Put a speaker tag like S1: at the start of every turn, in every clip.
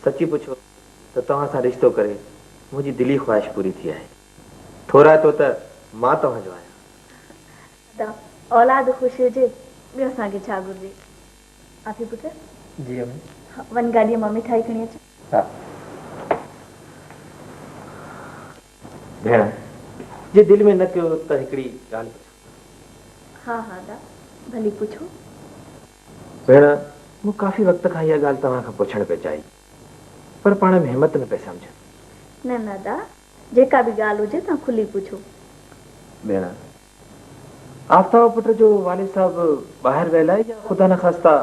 S1: سچي پڇو ته توهان سان رشتو ڪري منهنجي دلي خواهش پوري ٿي آهي. ٿورائتو ته مان توهان جو آهيان. ادا اولاد
S2: خوش هجي ٻيو اسان کي ڇا گهرجي. آفي پٽ. جي امي.
S1: وڃ گاڏيء مان
S2: مٺائي کڻي اچ. ها.
S1: ڀيڻ جي دل ۾ نه ڪيو ته هڪڙي ڳالهه پڇان. ها ها ادا
S2: ڀلي پڇو.
S1: ڀيڻ، مون ڪافي وقت کان اها ڳالهه توهان کان پڇڻ پئي چاهي، پر پاڻ ۾ همت نه پئي سمجهان. نه نه ادا،
S2: جيڪا به ڳالهه هجي توهان کلي پڇو. ڀيڻ،
S1: آفتاب پٽ جو والد صاحب ٻاهر ويل آهي يا خدا نخواسته.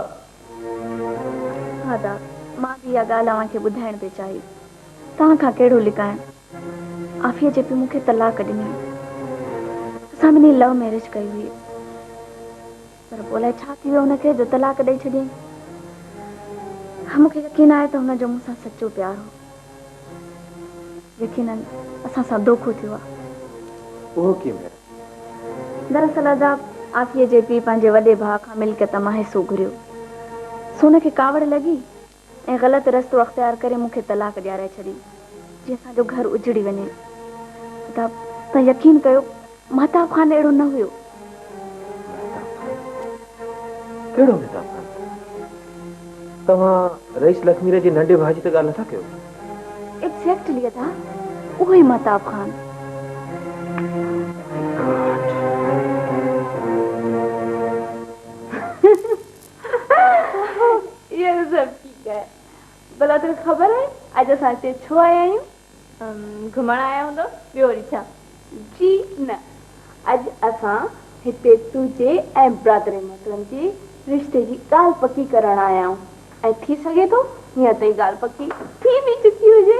S1: نه
S2: ادا، مان به اها ڳالهه اوهان کي ٻڌائڻ پئي چاهي، توهان کان ڪهڙو لڪائڻ. عافيه جي پيء مون کي طلاق ڏني. اسان ٻنهي لو ميرج ڪئي هئي. پر پوء الائي ڇا ٿي ويو هن کي جو طلاق ڏئي ڇڏيائين. مون کي يقين آهي ته هن جو مون سان سچو پيار هو. يقينن اسان سان دوکو ٿيو آهي. اهو
S1: ڪيئن ڀيڻ؟
S2: دراصل ادا عافيه جي پيء پنهنجي وڏي ڀاء کان ملڪيت مان حصو گهريو سو هن کي ڪاوڙ لڳي ۽ غلط رستو اختيار ڪري مون کي طلاق ڏيارائي ڇڏي جي اسان جو گهر اجڙي وڃي خدا تون يقين ڪيو مهتاب خان اهڙو نه هيو.
S1: مهتاب خان ڪهڙو مهتاب خان توهان رئيس لکمير جي ننڍي ڀاء جي ته ڳالهه نٿا ڪيو. ايگزيڪٽلي
S2: ادا اهو ئي مهتاب خان. اهو ته سڀ ٺيڪ آهي. ڀلا توکي خبر آهي اڄ اسان هتي ڇو آيا آهيون؟ گهمڻ آيا هوندؤ ٻيو وري ڇا؟ جي نه. اڄ اسان هتي تنهنجي ۽ برادري محترم جي رشتي جي ڳالهه پڪي ڪرڻ آيا آهيون ۽ ٿي سگهي ٿو هينئر تائين ڳالهه پڪي ٿي به چڪي هجي.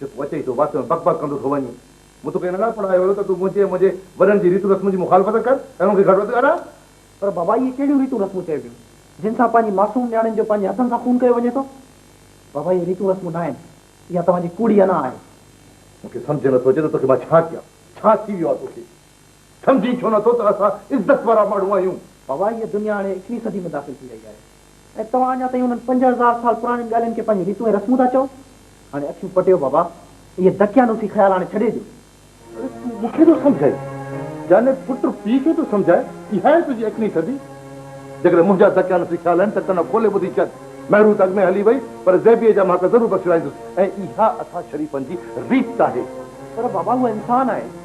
S3: جو تون اچي ئي ٿو واسطي ۾ بڪ بڪ ڪندو ٿو وڃين. مون توکي ننڍان پڙهايو هيو ته تون منهنجي ۽ منهنجي وڏن جي ريتون رسمن جي مخالفت ڪر ۽ انهن کي گهٽ وڌ ڳالهاء. پر بابا اهي ڪهڙيون ريتون رسمون چئبيون جن سان پنهنجي معصوم نياڻين جو پنهنجي هٿن سان خون ڪيو وڃي ٿو. بابا اهي ريتون رسمون ناهن. اها توهان جي ڪوڙي انا آهي. مون کي سمجهه نٿو اچي ته توکي مان ڇا ڪيان. ڇا ٿي ويو آهي توکي. سمجهين ڇو نه ٿو ته اسان عزت وارا ماڻهو آهيون. بابا هيء دنيا هاڻي ايڪوهين صدي ۾ داخل ٿي رهي آهي ۽ توهان اڃا تائين انهن پنج هزار سال پراڻين ڳالهين کي پنهنجون ريتون ۽ رسمون ٿا چئو. هاڻي اکيون پٽيو بابا اهي دقيانوسي خيال هاڻي ڇڏي ڏيو. اڙي تون مون کي ٿو سمجهائين يعني پٽ پيء کي ٿو سمجهائي اها آهي تنهنجي ايڪوهين صدي. جيڪڏهن منهنجا دقيانوسي خيال آهن ته ڪن کولي ٻڌي ڇڏ. مهرون ته اڳ ۾ هلي وئي پر زيبيء جا مهاڪ ضرور بخشرائيندس ۽ اها اسان شريفن جي ريت آهي. پر بابا هوء انسان آهي.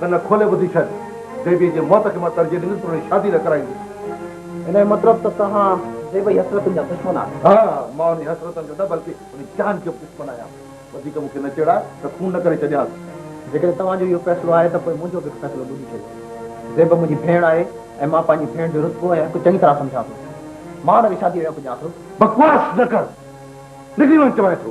S3: ڪن کولي ٻڌي ڇڏ. زيبيء جي موت کي مان ترجيح ڏيندس پر انهي شادي نه ڪرائيندس. ان جو مطلب ته توهان زيبيء جي حسرتن جا دشمن آهيو. ها، مان انهي حسرتن جو نه بلڪه انهي جان جو به دشمن آهيان. وڌيڪ مون کي نه چيڙاء ته خون نه ڪري ڇڏيانس. جيڪڏهن توهان جو اهو فيصلو آهي ته پوء منهنجو به هڪ فيصلو ٻڌي ڇڏيو. زيبه منهنجي ڀيڻ آهي ۽ مان پنهنجي ڀيڻ جو رتبو ۽ حق چڱي طرح سمجهان ٿو. مان هن کي شاديء جو حق ڏيان ٿو. بڪواس نه ڪر. نڪري وڃ چوانء ٿو.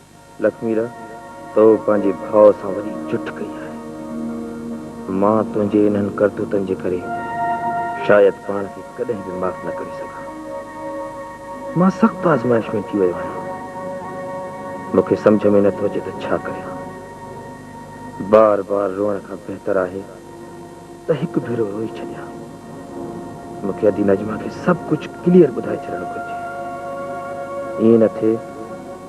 S1: لکميء، تو پنهنجي ڀاء سان وڏي جٺ ڪئي آهي. مان تنهنجي انهن ڪرتوتن جي ڪري شايد پاڻ کي ڪڏهن به معاف نه ڪري سگهان. مان سخت آزمائش ۾ اچي ويو آهيان. مون کي سمجهه ۾ نه ٿو اچي ته ڇا ڪريان. بار بار روئڻ کان بهتر آهي. ته هڪ ڀيرو روئي ڇڏيان. مون کي ادي نجمه کي سڀ ڪجهه ڪليئر ٻڌائي ڇڏڻ گهرجي. ائين نه ٿئي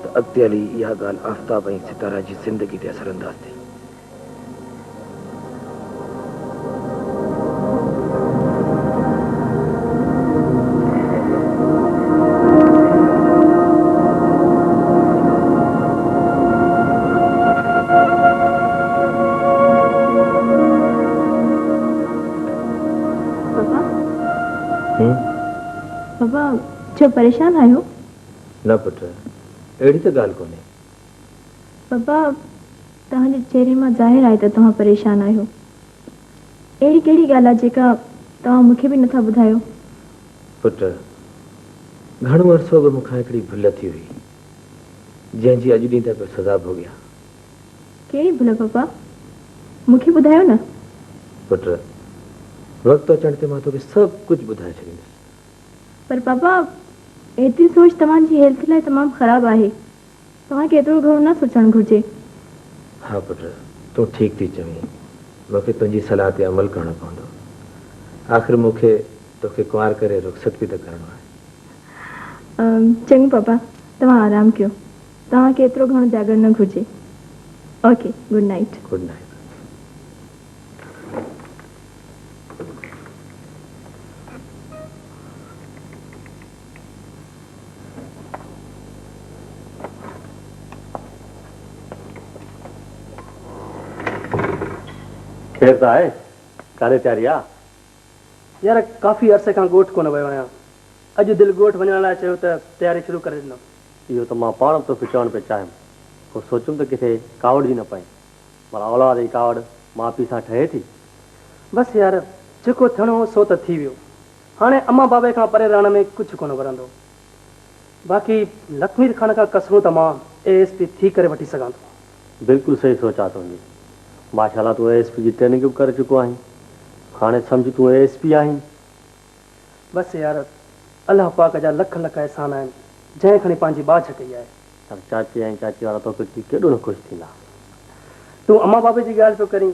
S1: ته اڳتي هلي اها ڳالهه آفتاب ۽ ستاره جي زندگي تي اثر انداز ٿئي.
S2: ڇو پريشان آهيو؟ نه پٽ
S1: اهڙي ته ڳالهه ڪونهي.
S2: بابا توهان جي چهري مان ظاهر آهي ته توهان پريشان آهيو. اهڙي ڪهڙي ڳالهه آهي جيڪا توهان مون کي به نٿا ٻڌايو؟ پٽ،
S1: گهڻو عرصو اڳ مون کان هڪڙي ڀل ٿي هئي، جنهن جي اڄ ڏينهن تائين پيو سزا ڀوڳيان. ڪهڙي
S2: ڀل پاپا؟ مون کي ٻڌايو نه. پٽ،
S1: وقت اچڻ تي مان توکي سڀ ڪجهه ٻڌائي ڇڏيندس. پر
S2: پاپا، ايتري سوچ توهان جي هيلٿ لاء تمام خراب آهي. توهان کي ايترو گهڻو نه سوچڻ گهرجي. ها
S1: پٽ، تون ٺيڪ ٿي چوين. مون کي تنهنجي صلاح تي عمل ڪرڻو پوندو. آخر مون کي تو کي ڪنوار ڪري رخصت به ته ڪرڻو آهي.
S2: چڱو پاپا، توهان آرام ڪيو. توهان کي ايترو گهڻو جاڳڻ نه گهرجي. Okay, good night. Good night.
S3: خير ته آهي؟ ڪاڏي تياري آ؟ يار ڪافي عرصي کان ڳوٺ ڪونه ويو آهيان. اڄ دل ڳوٺ وڃڻ لاء چيو ته تياري شروع ڪري ڏنم. اهو ته مان پاڻ به توکي چوڻ پئي چاهيم. پوء سوچيم ته ڪٿي ڪاوڙجي نه پئين. ڀلا اولاد جي ڪاوڙ ماء پيء سان ٺهي ٿي؟ بس يار جيڪو ٿيڻو هو سو ته ٿي ويو. هاڻي امان بابي کان پري رهڻ ۾ ڪجهه ڪونه ورندو. باقي لکمير خان کان ڪسرون ته مان اي ايس پي ٿي ڪري وٺي سگهان ٿو. بلڪل صحيح سوچ آ تنهنجي. ماشاءالله تون اي ايس پي جي ٽريننگ به ڪري چڪو آهين. هاڻي سمجهه تون اي ايس پي آهين. بس يار الله پاڪ جا لک لک احسان آهن جنهن کڻي پنهنجي ٻاجهه ڪئي آهي. پر چاچي ۽ چاچي وارا توکي ڏسي ڪيڏو نه خوش ٿيندا. تون امان بابي جي ڳالهه پيو ڪرين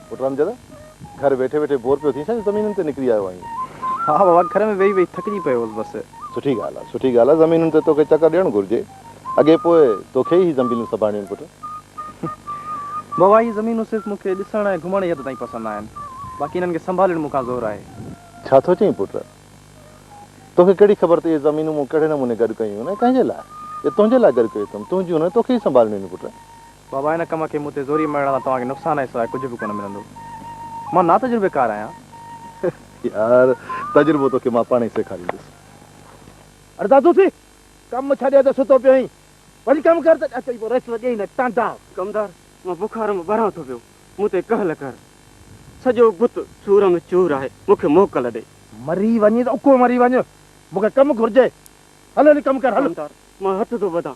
S4: پٽ رامجد، گهر ويٺي ويٺي بور پيو ٿين ڇا جو زمينن تي نڪري آيو آهين؟ ها بابا، گهر
S3: ۾ ويهي ويهي ٿڪجي پيو هوس بس. سٺي ڳالهه آهي، سٺي
S4: ڳالهه آهي، زمينن تي توکي چڪر ڏيڻ گهرجي. اڳي پوء توکي ئي هي زنبيلون سنڀالڻيون آهن پٽ.
S3: بابا، هي زمينون صرف مون کي ڏسڻ ۽ گهمڻ جي حد تائين پسند آهن. باقي انهن کي سنڀالڻ مون کان زور آهي. ڇا ٿو چئين
S4: پٽ؟ توکي ڪهڙي خبر ته اهي زمينون مون ڪهڙي نموني گڏ ڪيون آهن ۽ ڪنهن جي لاء؟ اهي تنهنجي لاء گڏ ڪيون اٿم، تنهنجيون نه، توکي ئي سنڀالڻيون آهن پٽ. بابا ان ڪم
S3: کي مون تي زوري مڙهڻ مان توهان کي نقصان کان سواء ڪجهه به ڪونه ملندو. مان ناتجربيڪار آهيان. يار
S4: تجربو توکي مان پاڻهي سيکاريندس.
S5: اڙ دادو ٿي ڪم ڇڏي ته ستو پيو آهين. وڃ ڪم ڪر ته اچي پوء ريسٽ ڏيئي نه ٽانڊا. ڪمدار مان
S6: بخار ۾ ٻران ٿو پيو مون تي ڪهل ڪر. سڄو بت سور ۾ چور آهي مون کي موڪل ڏي. مري وڃ ته
S5: اڪو مري وڃ مون کي ڪم گهرجي. هل هلي ڪم ڪر هل. ڪمدار مان هٿ ٿو
S6: ٻڌان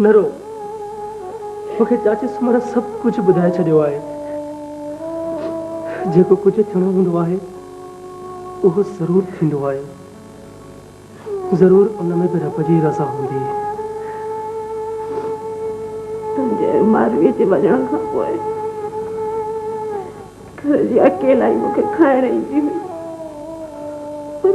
S7: نه رو، مون کي چاچي سومرا سڀ ڪجهه ٻڌائي ڇڏيو آهي. جيڪو ڪجهه ٿيڻو هوندو آهي، اهو ضرور ٿيندو آهي. ضرور ان ۾ به رب جي رضا هوندي.
S8: تنهنجي مارويء جي وڃڻ کان پوء گهر جي اڪيلائي مون کي کائڻ ايندي هئي، پر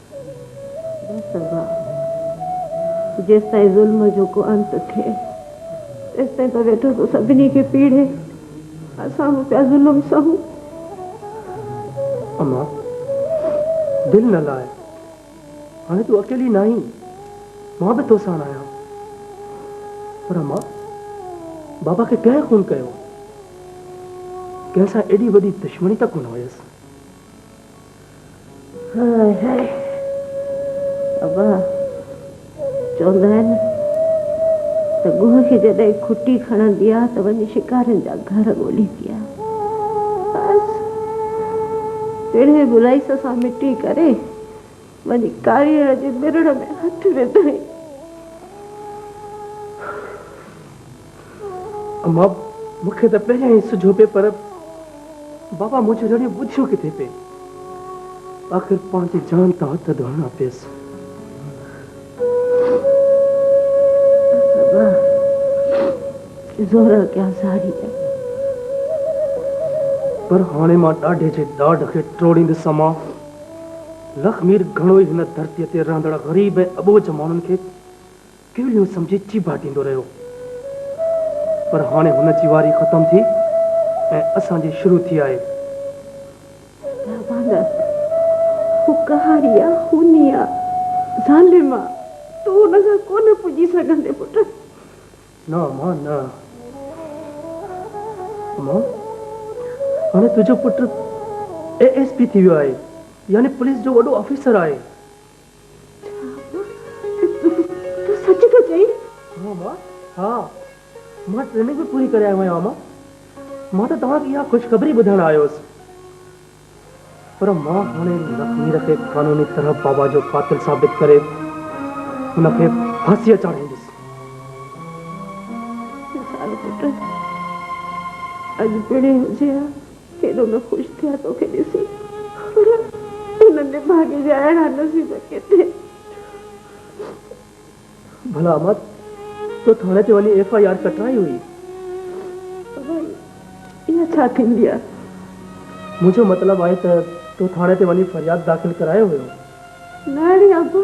S8: سگهان. جيستائين ظلم جو ڪو انت ٿئي، تيستائين ته ويٺو ٿو سڀني کي پيڙهي. اسان به پيا ظلم سهون.
S7: اما، دل نه لاء. هاڻي تون اڪيلي ناهين. مان به تو ساڻ آهيان. پر اما، بابا کي ڪنهن خون ڪيو؟ ڪنهن سان ايڏي وڏي دشمني ته ڪونه هيس.
S8: هاء هاء ابا چوندا آهن ته ڳوهه کي جڏهن کٽي کڻندي آهي ته وڃي شڪارين جا گهر ڳوليندي آهي بس پيڙهي بلائيس سان مٽي ڪري وڃي ڪاريئڙ جي مرڙ ۾ هٿ وڌائين
S7: اما، مون کي ته پهريان ئي سجهو پئي پر بابا منهنجو رڙيون ٻڌيون ڪٿي پئي. آخر پنهنجي جان تان هٿ ڌوئڻا پيس. بابا، زور اڳيان
S8: ساري آهي.
S7: پر هاڻي مان ڏاڍي جي ڏاڍ کي ٽوڙيندس اما. لخمير گهڻو ئي هن ڌرتيء تي رهندڙ غريب ۽ اٻوجهه ماڻهن کي ڪيليون سمجهي چيڀا ڏيندو رهيو. پر هاڻي هن جي واري ختم ٿي ۽ اسان جي شروع ٿي آهي. لاوانا،
S8: هو ڪهاڙي آ، خوني آ، ظالم آ، تون هن سان ڪونه پڄي سگهندين پٽ. نه
S7: امان نه. امان، هاڻي تنهنجو پٽ اي ايس پي ٿي ويو آهي، يعني پوليس جو وڏو آفيسر آهي.
S8: تون سچ ٿو چئين؟ ها ماما،
S7: ها. مان ٽريننگ به پوري ڪري آيو آهيان ماما. مان ته توهان کي اها خوشخبري ٻڌائڻ آيو هوس. پر مان هاڻي لکمير کي قانوني طرح بابا جو قاتل ثابت ڪري هن کي ڦاسيء چاڙهيندس. نثار
S8: پٽ، اڄ پڻهين هجي ها ڪيڏو نه خوش ٿيا توکي ڏسي پر هنن جي ڀاڳي جا اهڙا نصيب ڪٿي.
S7: ڀلا احمد تو ٿاڻي تي وڃي ايف آء آر ڪٽرائي هئي. ڀائي اها
S8: ڇا ٿيندي آ. منهنجو
S7: مطلب آهي ته تو ٿاڻي تي وڃي فرياد داخل ڪرايو هيو. نه اڙي
S8: ابا.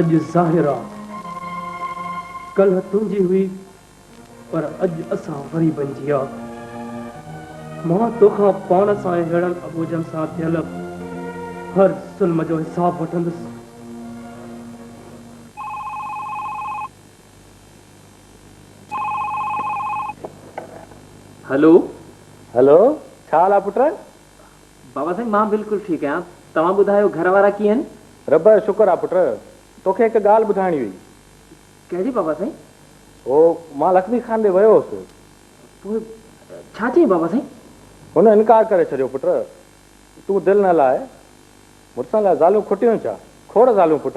S7: اڄ ظاهر آ ڪلهه تنهنجي هئي پر اڄ اسان غريبن جي آ مان توکان پاڻ سان ۽ ههڙن اٻوجهن سان ٿيل هر ظلم جو حساب وٺندس
S9: هلو هلو
S3: ڇا حال آ پٽ بابا
S9: سائين مان بلڪل ٺيڪ آهيان توهان ٻڌايو گهر وارا ڪيئن آهن. رب جو شڪر آ
S3: پٽ توکي هڪ ڳالهه ٻڌائڻي هئي. ڪهڙي
S9: بابا سائين. هو
S3: مان لکمي خان ڏي ويو هوس. پوء
S9: ڇا چيائين بابا سائين. هن انڪار
S3: ڪري ڇڏيو پٽ تون دل نه لاء مڙسن لاء زالون کوٽيون ڇا. کوڙ زالون پٽ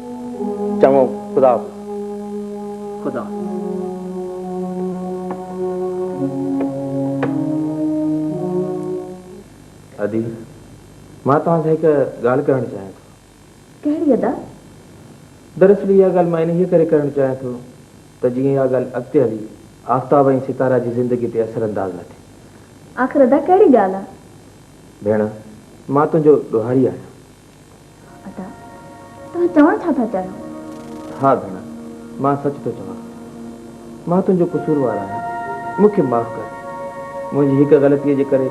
S9: چڱو،
S3: خدا حافظ.
S9: خدا
S1: حافظ. ادي، مان توهان سان هڪ ڳالهه ڪرڻ چاهيان ٿو. ڪهڙي ادا؟ دراصل اها ڳالهه مان انهيء ڪري ڪرڻ چاهيان ٿو ته جيئن اها ڳالهه اڳتي هلي آفتاب ۽ ستاره جي زندگي تي اثر انداز نه ٿي. آخر ادا
S2: ڪهڙي ڳالهه آ؟ ڀيڻ،
S1: مان تنهنجو ڏوهاري آهيان. ادا
S2: توهان چوڻ ڇا ٿا چاهيو؟ ها ڀيڻ
S1: مان سچ ٿو چوان مان تنهنجو قصوروار آهيان مون کي معاف ڪر منهنجي هڪ غلطي جي ڪري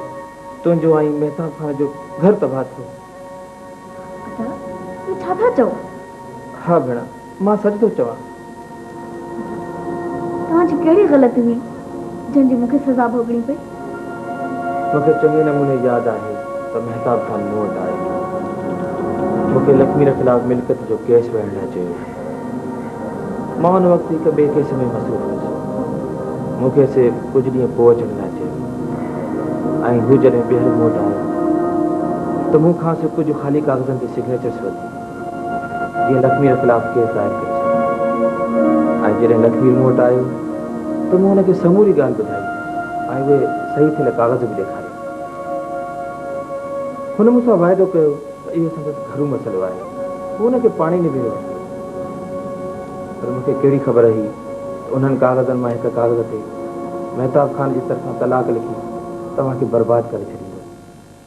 S1: تنهنجو ۽ مهتاب خان جو گهر تباهه ٿيو. ادا اهو
S2: ڇا ٿا چئو؟ ها ڀيڻ.
S1: مان سچ ٿو چوان.
S2: توهان جي ڪهڙي غلطي هئي جنهن جي مون کي سزا ڀوڳڻي پئي؟ مون
S1: کي چڱي نموني ياد آهي ته مهتاب خان مون وٽ آيو. مون کي لکمير خلاف ملڪيت جو ڪيس وڙهڻ لاء چيو هو. مان ان وقت هڪ ٻئي ڪيس ۾ مصروف هيس. مون کي سي ڪجهه ڏينهن پوء اچڻ لاء چيو ۽ هو جڏهن ٻيهر مون وٽ آيو ته مون کانئس ڪجهه خالي ڪاغذن تي سگنيچرس ورتيون. جيئن لکمير خلاف ڪيس دائر ڪري ڇڏيو ۽ جڏهن لکمير مون وٽ آيو ته مون هن کي سموري ڳالهه ٻڌائي ۽ اهي صحيح ٿيل ڪاغذ به ڏيکاريا. هن مون سان واعدو ڪيو ته اهو سندس گهرو مسئلو آهي، هو ان کي پاڻهي نبيري وٺندو. پر مون کي ڪهڙي خبر هئي ته انهن ڪاغذن مان هڪ ڪاغذ تي مهتاب خان جي طرفان طلاق لکي توهان کي برباد ڪري ڇڏيندو.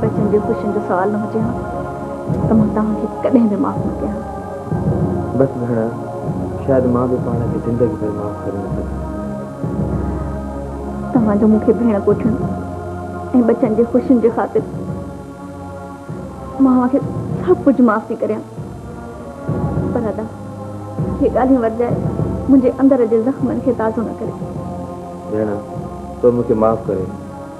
S2: بچن جي خوشين جو سوال نه هجي ها ته مان توهان کي ڪڏهن به معاف نه ڪيان ها. بس
S9: ڀيڻ، شايد مان به پاڻ کي زندگي ڀر معاف ڪري نه سگهان.
S2: توهان جو مون کي ڀيڻ ڪوٺڻ ۽ بچن جي خوشين جي خاطر مان اوهان کي سڀ ڪجهه معاف ٿي ڪريان پر ادا اهي ڳالهيون ورجائي منهنجي اندر جي زخمن کي تازو نه ڪري. ڀيڻ،
S9: تو مون کي معاف ڪري.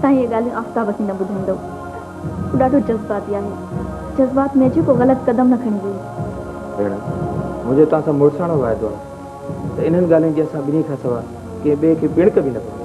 S2: تان اهي ڳالهيون آفتاب کي نه ٻڌائيندو. هو ڏاڍو جذباتي آهي. جذبات ۾ اچي ڪو غلط قدم نه کڻي ويهي. ڀيڻ،
S9: منهنجو توهان سان مڙساڻو واعدو آهي ته انهن ڳالهين جي اسان ٻنهي کان سواء ڪنهن ٻئي کي ٻڻڪ به نه پوندي.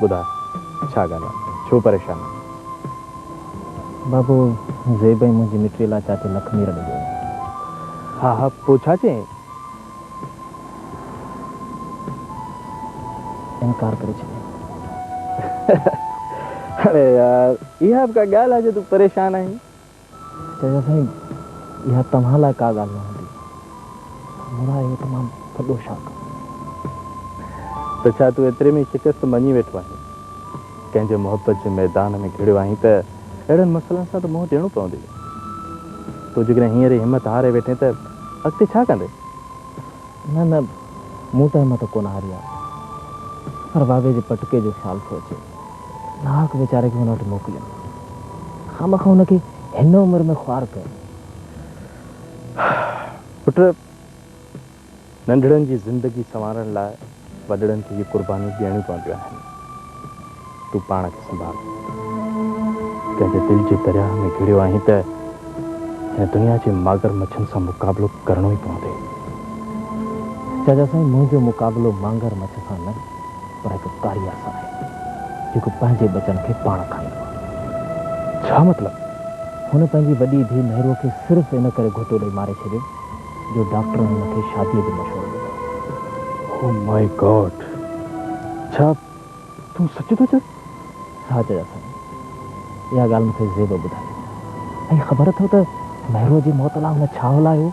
S4: ٻڌاء ڇا ڳالهه آ، ڇو پريشان آهين؟
S9: بابو، زيب ۽ منهنجي مٽيء لاء چاچي لک مير ڏيندو هيم. ها
S4: ها، پوء ڇا چيائين؟
S9: انڪار ڪري ڇڏيائين.
S4: اڙي يار، اها به ڪا ڳالهه آ جو تون پريشان آهين؟ چيائين
S9: سائين اها توهان لاء ڪا ڳالهه نه هوندي. مورا اهو تمام وڏو شاڪ هو.
S4: ته ڇا تون ايتري ۾ ئي شڪست مڃي ويٺو آهين؟ ڪنهن جي محبت جي ميدان ۾ گهڙيو آهين ته اهڙن مسئلن سان ته منهن ڏيڻو پوندي. تون جيڪڏهن هينئر ئي همت هاري ويٺين ته اڳتي ڇا ڪندين؟ نه
S9: نه مون ته همت ڪونه هاري آهي. پر واوي جي پٽڪي جو خيال ٿو اچي. ناحق ويچاري کي هن وٽ موڪليم، خامخا هن کي هن عمر ۾ خوار ڪيم.
S4: پٽ! ننڍڙن جي زندگي سنوارڻ لاء وڏڙن کي اهي قربانيون ڏيڻيون پونديون آهن. تون پاڻ کي سنڀال. ڪنهن جي دل جي درياهه ۾ گهڙيو آهين ته هن دنيا جي ماڳر مڇن سان مقابلو ڪرڻو ئي پوندي.
S9: چاچا سائين منهنجو مقابلو مانگر مڇ سان نه. پر هڪ ڪاري آسا آهي جيڪو پنهنجي ٻچن کي پاڻ کائيندو آهي. ڇا مطلب؟
S4: هن پنهنجي
S9: وڏي ڌيء مهروء کي صرف ان ڪري گهوٽو ڏئي ماري ڇڏيو جو ڊاڪٽرن هن کي شاديء جو مشورو ڏنو هو.
S4: Oh my
S9: god!
S4: ڇا تون سچ ٿو چوين؟ ها جيجا
S9: سائين، اها ڳالهه مون کي زيب ٻڌائي. ۽ خبر اٿو ته مهروء جي موت لاء هن ڇا هلايو هو؟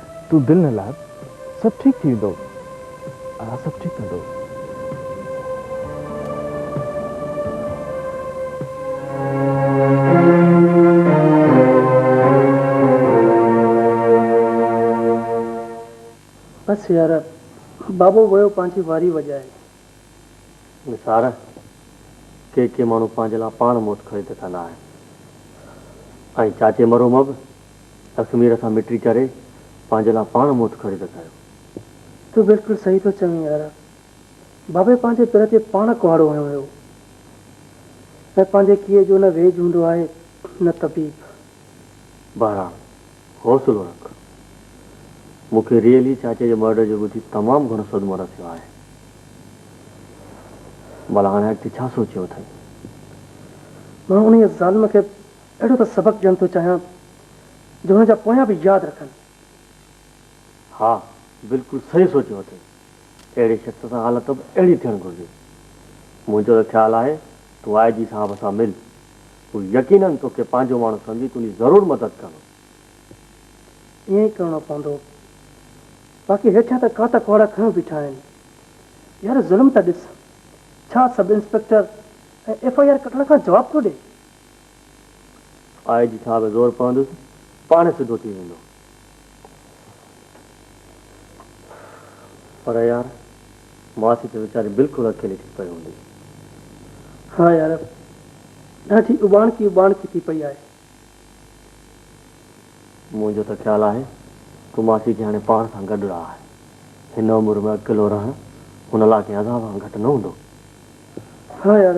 S4: تون دل نه لاء سڀ ٺيڪ ٿي ويندو آء سڀ ٺيڪ ڪندو.
S7: بس يار بابو ويو پنهنجي واري وڄائي.
S6: نثار، ڪي ڪي ماڻهو پنهنجي لاء پاڻ موت خريد ڪندا آهن ۽ چاچي مرحومه به اخمير کان مٽي چري پنهنجي لاء پاڻ موت خريد ڪيو. تون بلڪل
S7: صحيح ٿو چوين يار. بابي پنهنجي پير تي پاڻ ڪهاڙو هنيو هيو. ۽ پنهنجي ڪيئي جو نه ويڄ هوندو آهي نه طبيب.
S6: بهرحال حوصلو رک. مون کي ريئلي چاچي جي مرڊر جو ٻڌي تمام گهڻو صدمو رسيو آهي. ڀلا هاڻي اڳتي ڇا سوچيو اٿئي؟
S7: مان انهيء ظالم کي اهڙو ته سبق ڏيڻ ٿو چاهيان جو هن جا پويان به ياد رکن.
S6: ها، بلڪل صحيح سوچيو اٿئي. اهڙي شخص سان حالت به اهڙي ٿيڻ گهرجي. منهنجو ته خيال آهي تون آء جي صاحب سان مل هو يقينن توکي پنهنجو ماڻهو سمجهي تنهنجي ضرور مدد ڪندو.
S7: ائين ئي ڪرڻو پوندو. باقي هيٺيان ته ڪاتا ڪهاڙا کنيو بيٺا آهن. يار ظلم ته ڏس. ڇا sub inspector ۽ F I R ڪٽڻ کان جواب ٿو ڏي. آء
S6: جي صاحب زور پوندس پاڻهي سڌو ٿي ويندو. پر يار ماسي ته ويچاري بلڪل اڪيلي ٿي پئي هوندي.
S7: ها يار ڏاڍي اٻاڻڪي اٻاڻڪي ٿي پئي آهي.
S6: منهنجو ته خيال آهي ته ماسي کي هاڻي پاڻ سان گڏ رهاء. هن عمر ۾ اڪيلو رهڻ هن لاء ڪنهن عذاب کان گهٽ نه هوندو. ها
S7: يار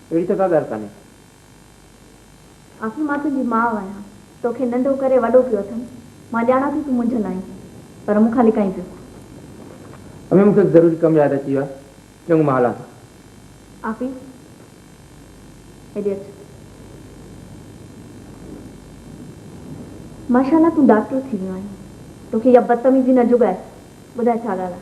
S9: اهڙي ته ڪا ڳالهه ڪانهي. آخر
S2: مان تنهنجي ماء آهيان. توکي ننڍو ڪري وڏو ڪيو اٿم. مان ڄاڻان ٿي تون منجهيل آهين. پر مون کان لڪائين پيو.
S9: امي مون کي هڪ ضروري ڪم ياد اچي ويو آهي. چڱو مان هلان ٿو. آفي
S2: هيڏي اچ. ماشا الله تون ڊاڪٽر ٿي ويو آهين. توکي اها بدتميزي نه جڳائي. ٻڌاء ڇا ڳالهه آهي.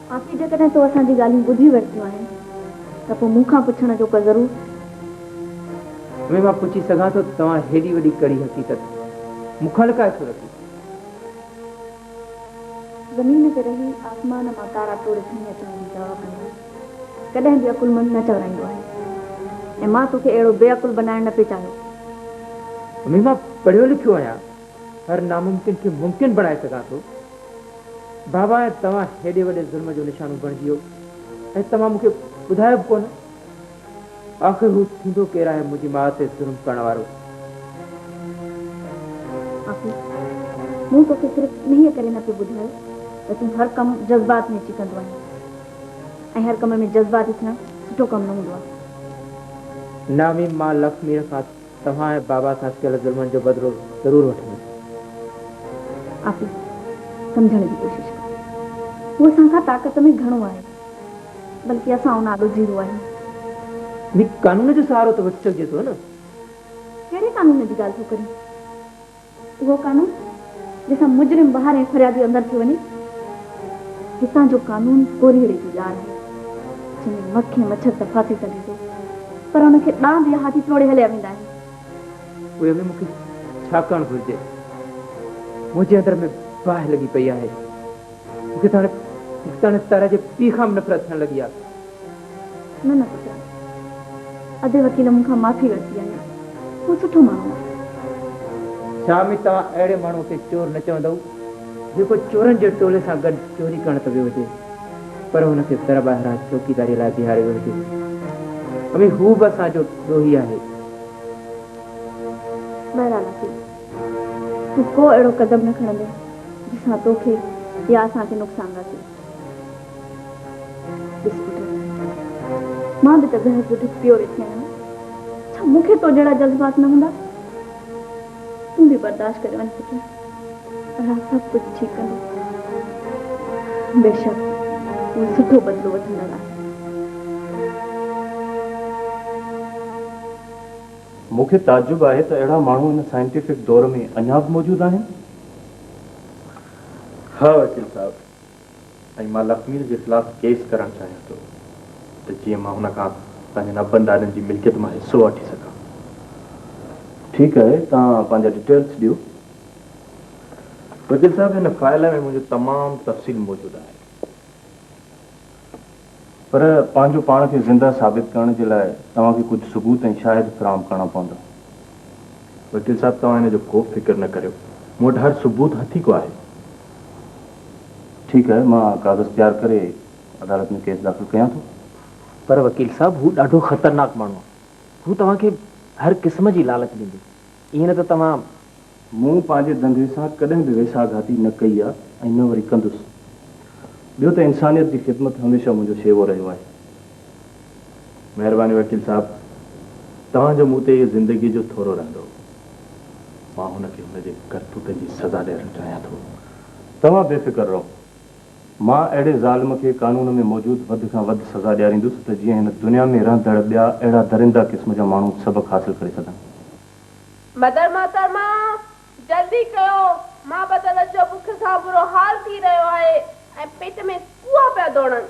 S2: باقي جيڪڏهن تو اسان جي ڳالهيون ٻڌي ورتيون آهن ته پوء مون کان پڇڻ جو ڪر ضرور.
S9: ۾ مان پڇي سگهان ٿو ته توهان هيڏي وڏي ڪڙي حقيقت مون کان لڪائي ڇو رکي؟ زمين تي رهي آسمان مان تارا ٽوڙي
S2: کڻي اچڻ جي چاهه ڪندو ڪڏهن به عقلمند نه چورائيندو آهي ۽ مان توکي اهڙو بي عقل بنائڻ نه پئي چاهيو.
S9: ۾ مان پڙهيو لکيو آهيان. هر ناممڪن کي ممڪن بڻائي سگهان ٿو. بابا ۽ توهان هيڏي وڏي ظلم جو نشانو بڻجيو ۽ توهان مونکي ٻڌايو به ڪونه. آخر هو ٿيندو ڪير آهي منهنجي ماء تي ظلم ڪرڻ وارو؟
S2: آفي، مون توکي صرف انهيء ڪري نه پيو ٻڌايو ته تون هر ڪم جذبات ۾ اچي ڪندو آهين ۽ هر ڪم ۾ جذباتي ٿيڻ سٺو ڪم نه هوندو آهي. نامي، مان
S9: لڪشميء کان توهان ۽ بابا سان ڪيل ظلمن جو بدلو ضرور وٺندس.
S2: آفي، سمجهڻ جي ڪوشش ڪر. هو اسان کان طاقت ۾ گهڻو آهي. بلڪه اسان ان آڏو زيرو آهيون. نيڪ قانون جو سهارو
S9: ته وٺي سگهجي ٿو نه. ڪهڙي
S2: قانون جي ڳالهه ٿو ڪرين؟ اهو قانون جنهن سان مجرم ٻاهر ۽ فريادي اندر ٿي وڃي. هتان جو قانون ڪورهيڙي جي ڄار آهي، جنهن ۾ مک ۽ مڇر ته ڦاسي سگهي ٿو، پر ان کي ڏاند يا هاٿي ٽوڙي هليا ويندا آهن. اهي به مون کي
S9: ڇا ڪرڻ گهرجي؟ منهنجي اندر ۾ باهه لڳي پئي آهي. مونکي ته هاڻي مختياڻي ستاره جي پيء کان به نفرت ٿيڻ لڳي آهي. نه
S2: نه پٽ، ادي وڪيل مون کان معافي ورتي آهي. هو سٺو ماڻهو آهي.
S9: شامي توهان اهڙي ماڻهوء کي چور نه چوندؤ، جيڪو چورن جي ٽولي سان گڏ چوري ڪرڻ ته ويو هجي، پر هن کي در ٻاهران چوڪيداريء لاء بيهاريو ويو هجي. امي هو به اسان جو ڏوهي آهي.
S2: بهرحال وڪيل تون ڪو اهڙو قدم نه کڻندين جنهن سان توکي يا اسان کي نقصان رسي. ڏس پٽ، مان به ته بحث جو ڍڪ پيو رکي آهيان، ڇا مون کي تو جهڙا جذبات نه هوندا؟ تون به برداشت ڪري وڃ پٽ، الله سڀ ڪجهه ٺيڪ ڪندو. بيشڪ اهي سٺو بدلو وٺندڙ آهن.
S4: مون کي تعجب آهي ته اهڙا ماڻهو هن سائنٽيفڪ دور ۾ اڃا به موجود آهن؟ ها وڪيل صاحب، ۽ مان لکمير جي خلاف ڪيس ڪرڻ چاهيان ٿو ته جيئن مان هن کان پنهنجن ابن ڏاڏن جي ملڪيت مان حصو وٺي سگهان. ٺيڪ آهي، توهان پنهنجا ڊيٽيلز ڏيو. وڪيل صاحب، هن فائل ۾ منهنجو تمام تفصيل موجود آهي. پر پنهنجو پاڻ کي زنده ثابت ڪرڻ جي لاء توهان کي ڪجهه ثبوت ۽ شاهد فراهم ڪرڻا پوندا. وڪيل صاحب توهان ان جو ڪوبه فڪر نه ڪريو. مون وٽ هر ثبوت هٿي ڪو آهي. ٺيڪ آهي مان ڪاغذ تيار ڪري عدالت ۾ ڪيس داخل ڪيان ٿو. پر وڪيل
S1: صاحب هو ڏاڍو خطرناڪ ماڻهو آهي. هو توهان کي هر قسم جي لالچ ڏيندو. ائين نه ته توهان. مون
S4: پنهنجي دنگي سان ڪڏهن به ويساهه گهاتي نه ڪئي آ ۽ نه وري ڪندس. ٻيو ته انسانيت جي خدمت هميشه منهنجو شيوو رهيو آهي. مهرباني وڪيل صاحب توهان جو مون تي اهو زندگيء جو ٿورو رهندو. مان هن کي هن جي ڪرتوتن جي سزا ڏيارڻ چاهيان ٿو. توهان بي فڪر رهو. مان اهڙي ظالم کي قانون ۾ موجود وڌ کان وڌ سزا ڏياريندس ته جيئن هن دنيا ۾ رهندڙ ٻيا اهڙا درنده قسم جا ماڻهو سبق حاصل ڪري سگهن. مدر
S2: محترمه! جلدي ڪيو، مان بدل اچو، بک سان برو حال ٿي رهيو آهي ۽ پيٽ ۾ ڪوئا پيا ڊوڙن.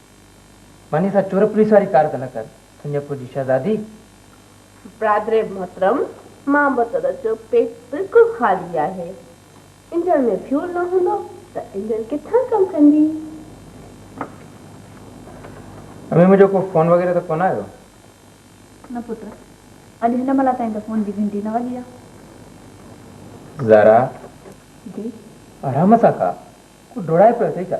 S9: وڃي سا چور پوليس واري ڪار ته نه ڪر تنهنجي پوء جي شهزادي.
S2: برادر محترم مان موتر جو پيٽ بلڪل خالي آهي انجڻ ۾ فيول نه هوندو ته انجڻ ڪٿان ڪم ڪندي.
S9: امي منهنجو ڪو فون وغيره ته ڪونه آيو. نه
S10: پٽ اڄ هن مهل تائين ته فون جي گهنٽي نه وڳي آهي. زارا.
S9: جي.
S10: آرام سان
S9: کاء ڪو ڊوڙائي پيو اٿئي ڇا.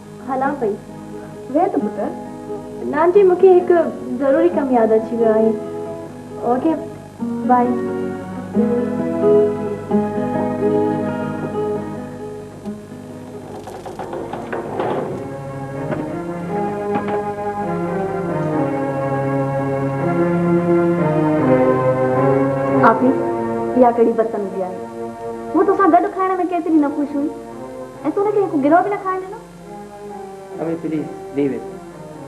S2: هلان پئي ويهه ته
S10: پٽ. نانجي
S2: مون کي هڪ ضروري ڪم ياد اچي ويو آهي او ڪي بائي.
S10: آپي اها ڪهڙي بدتميزي آهي هوء توسان گڏ کائڻ ۾ ڪيتري نه خوش هئي. ۽ تو ان کي هڪ گرو به نه کائڻ ڏنو. اوي
S9: پليز ليو اٽ.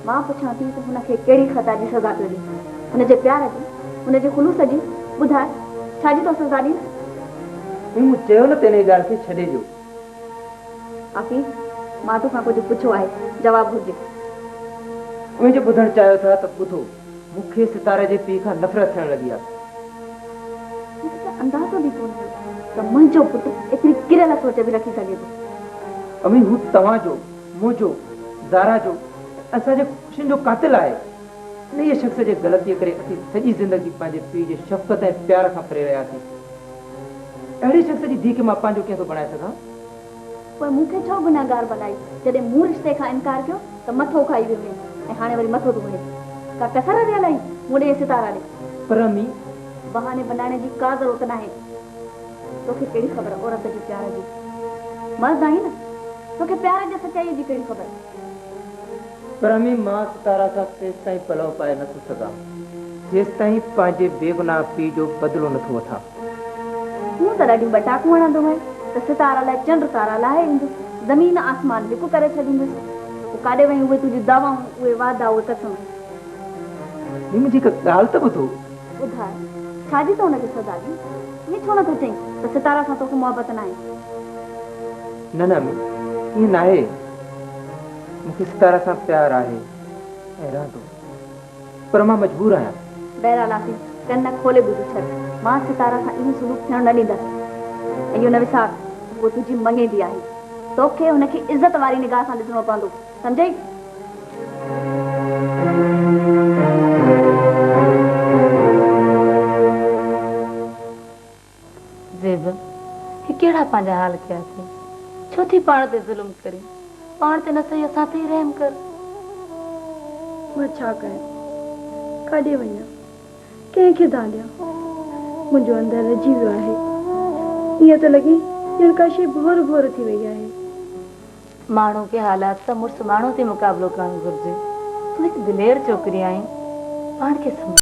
S9: مان پڇان ٿي
S10: ته هن کي ڪهڙي خطا جي سزا پيو ڏين؟ هن جي پيار جي؟ هن جي خلوص جي؟ ٻڌاء ڇا جي تو سزا ڏين؟ ائين مون
S9: چيو نه ته انهيء ڳالهه کي ڇڏي ڏيو.
S10: آفي مان تو کان ڪجهه پڇيو آهي جواب گهرجي. اوهين
S9: جو ٻڌڻ چاهيو ٿا ته ٻڌو. مون کي ستاره جي پيء کان نفرت ٿيڻ لڳي آهي.
S10: مون کي ته اندازو به ڪونه هو ته منهنجو پٽ ايتري ڪريل سوچ به رکي سگهي ٿو. امي هو توهان جو،
S9: منهنجو، زارا جو ۽ اسان جي خوشين جو قاتل آهي. انهيء شخص جي غلطيء ڪري اسين سڄي زندگي پنهنجي پيء جي شفقت ۽ پيار کان پري رهياسين. اهڙي شخص جي ڌيء کي مان پنهنجو ڪيئن ٿو بڻائي سگهان؟ پوء
S10: مون کي ڇو گنهگار بنائي؟ جڏهن مون رشتي کان انڪار ڪيو ته مٿو کائي ويو هئين ۽ هاڻي وري مٿو ڌوئين. ڪا ڪسر رهيل آهي مون ڏي ۽ ستارا ڏي؟ پرهمي،
S9: بهاني بنائڻ
S10: جي ڪا ضرورت ناهي. توکي ڪهڙي خبر عورت جي پيار جي؟ مرد آهين نه، توکي پيار جي سچائيء جي ڪهڙي خبر؟
S9: پرهمي، مان ستارا سان تيستائين پلئو پائي نٿو سگهان، جيستائين پنهنجي بيگناهه پيء جو بدلو نٿو وٺان.
S10: هونء ته ڏاڍيون ٻٽاڪون هڻندو هئين ته ستارا لئه چنڊ تارا لاهي ايندس، زمين آسمان لڪ ڪري ڇڏيندس. پوء ڪاڏي وئين اهي تنهنجون دعوائون، اهي وعدا، اهي قسم؟ نيم
S9: منهنجي هڪ ڳالهه ته ٻڌو. ٻڌاء،
S10: ڇا جي تو هن کي سزا ڏين؟ ائين ڇو نٿو چئين ته ستارا سان توکي محبت ناهي؟
S9: نه نه امي، ائين ناهي. مون کي ستارا سان پيار آهي ۽ رهندو. پر مان مجبور آهيان. بهرحال آفيس،
S10: ڪن کولي ٻڌي ڇڏ. مان ستاره سان اهو سلوڪ ٿيڻ نه ڏيندس. ۽ اهو نه وسار ته هوء تنهنجي مڱيندي آهي. تو کي هن کي عزت واري نگاهه سان ڏسڻو پوندو. سمجهيئي؟
S2: زيبا، هي ڪهڙا پنهنجا حال ڪيا اٿئي، ڇو ٿي پاڻ تي ظلم ڪرين، پاڻ تي نه سهي اسان تي ئي رحم ڪر.
S11: مان ڇا ڪيان، ڪاڏي وڃان، ڪنهن کي دانهن ڏيان، منهنجو اندر رجي ويو آهي، ائين ٿو لڳي ڄڻ ڪا شيء ڀور ڀور ٿي وئي آهي.
S2: ماڻهو کي حالات سان مڙس ماڻهو ٿي مقابلو ڪرڻ گهرجي، تون هڪ دلير ڇوڪري آهين، پاڻ کي سنڀال.